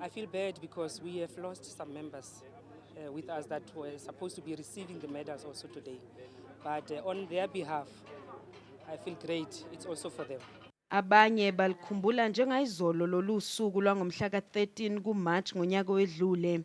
I feel bad because we have lost some members uh, with us that were supposed to be receiving the medals also today. But uh, on their behalf, I feel great. It's also for them. Abanye balikhumbula njengayizolo lolu suku lwangomhla ka-13 kuMarch ngonyaka owedlule.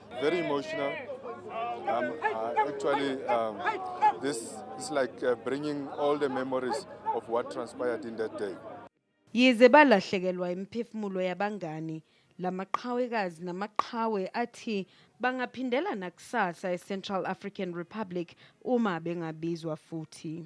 Very emotional. Um, uh, actually, um, this is like uh, bringing all the memories of what transpired in that day. Yize balahlekelwa imiphefumulo yabangani, lamaqhawekazi namaqhawe athi bangaphindela nakusasa eCentral African Republic uma bengabizwa futhi.